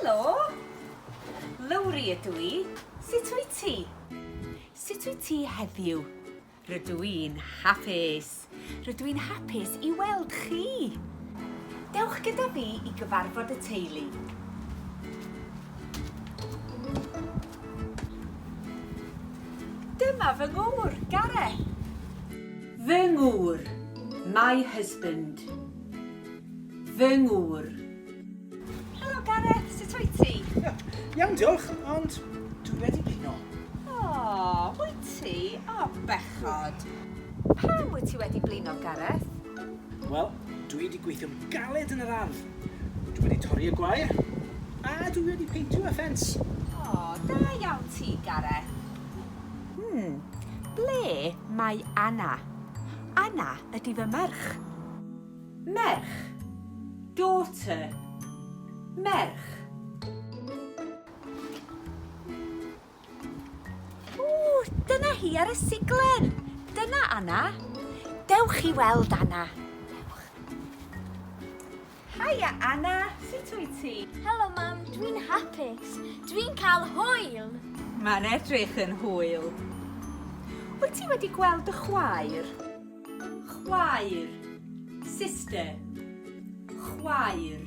Helo! Lowri ydw i. Sut wyt ti? Sut wyt ti heddiw? Rydw i'n hapus. Rydw i'n hapus i weld chi. Dewch gyda fi i gyfarfod y teulu. Dyma fy ngŵr, Gareth. Fy ngŵr, my husband. Fy ngŵr. Helo Gareth, sut wyt ti? Iawn diolch, ond dwi wedi blino. O, wyt ti? O, bechod. Pam wyt ti wedi blino, Gareth? Wel, Dwi wedi gweithio'n galed yn yr ardd, dwi wedi torri y gwair, a dwi wedi peintio y ffens. O, da iawn ti, Gareth. Hmm, ble mae Anna? Anna ydi fy merch. Merch. Daughter. Merch. Ww, dyna hi ar y siglen! Dyna Anna. Dewch i weld Anna. Dewch. Haia Anna, sut wyt ti? Helo Mam, dwi'n hapus. Dwi'n cael hwyl! Mae'n edrych yn hwyl. Wyt ti wedi gweld dy chwaer? Chwaer. Sister. Chwaer.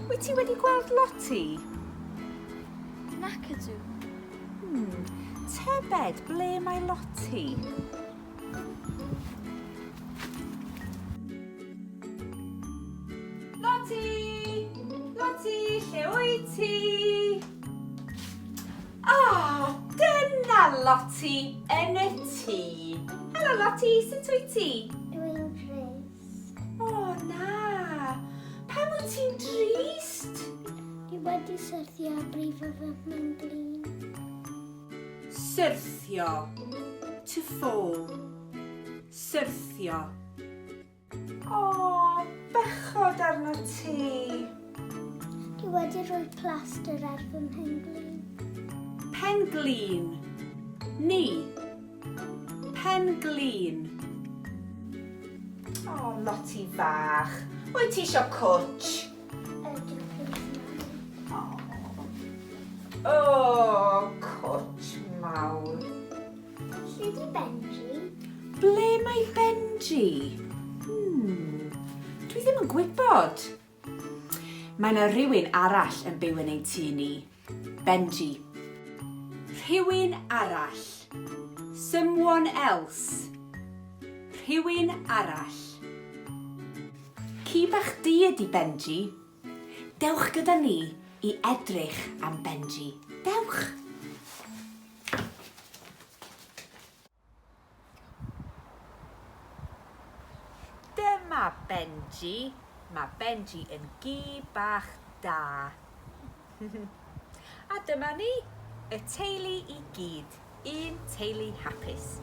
Wyt ti wedi gweld Lottie? Nac ydw. Hmm. Tybed ble mae Lottie? Ah, dyna Lotty yn y tŷ. Helo Lotty, sut wyt ti? Dwi'n drist. O na, pam wyt ti'n drist? Dwi wedi syrthio a brifo fy mhenglin. Syrthio. To fall. Syrthio. O, bechod arnot ti! Dwi wedi rhoi plaster ar fy mhen-glin. Pen-glin. Ni. Pen-glin. O, Loti fach. Wyt ti isio cwtsh? Ydw, plîs, Mami. O, cwtsh mawr. Lle di Benji? Ble mae Benji? Hmm, dwi ddim yn gwybod. Mae yna rhywun arall yn byw yn ein tŷ ni. Benji. Rhywun arall. Someone else. Rhywun arall. Ci bach di ydi Benji. Dewch gyda ni i edrych am Benji. Dewch! Dyma Benji. Mae Benji yn gi bach da. A dyma ni, y teulu i gyd, un teulu hapus.